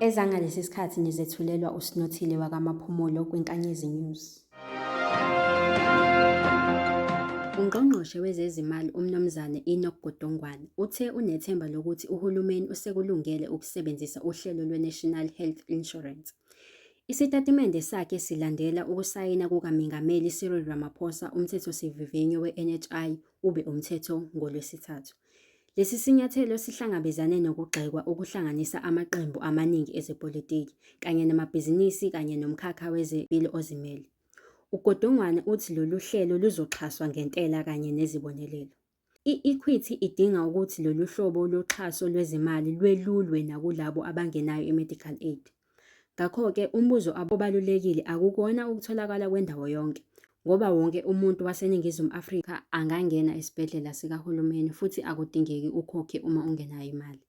Ezangalesi sikhathi nizethulelwa uSinothile wakamaphumulo kwiNkanyezi News. UNgqongqoshe wezeziMali uMnumzane Enoch Godongwana uthe unethemba lokuthi uhulumeni usekulungele ukusebenzisa uhlelo lweNational Health Insurance. Isitatimende sakhe silandela ukusayina kukaMengameli Cyril Ramaphosa umthethosivivinyo we-NHI ube umthetho ngoLwesithathu. Lesi sinyathelo sihlangabezane nokugxekwa okuhlanganisa amaqembu amaningi ezepolitiki kanye namabhizinisi kanye nomkhakha wezempilo ozimele. UGodongwana uthi lolu hlelo luzoxhaswa ngentela kanye nezibonelelo. I-Equity idinga ukuthi lolu hlobo loxhaso lwezimali lwelulwe nakulabo abangenayo i-medical aid. Ngakho-ke umbuzo abobalulekile akukuwona ukutholakala kwendawo yonke ngoba wonke umuntu waseNingizimu Afrika angangena esibhedlela sikahulumeni futhi akudingeki ukhokhe uma ungenayo imali.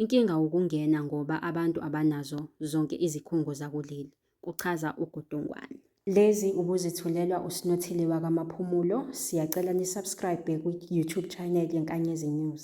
Inkinga wukungena ngoba abantu abanazo zonke izikhungo zakuleli, kuchaza uGudungwane. Lezi ubuzithulelwa uSinothile wakwaMaphumulo. Siyacela nisubscribe kwi-YouTube channel yeNkanyezi News.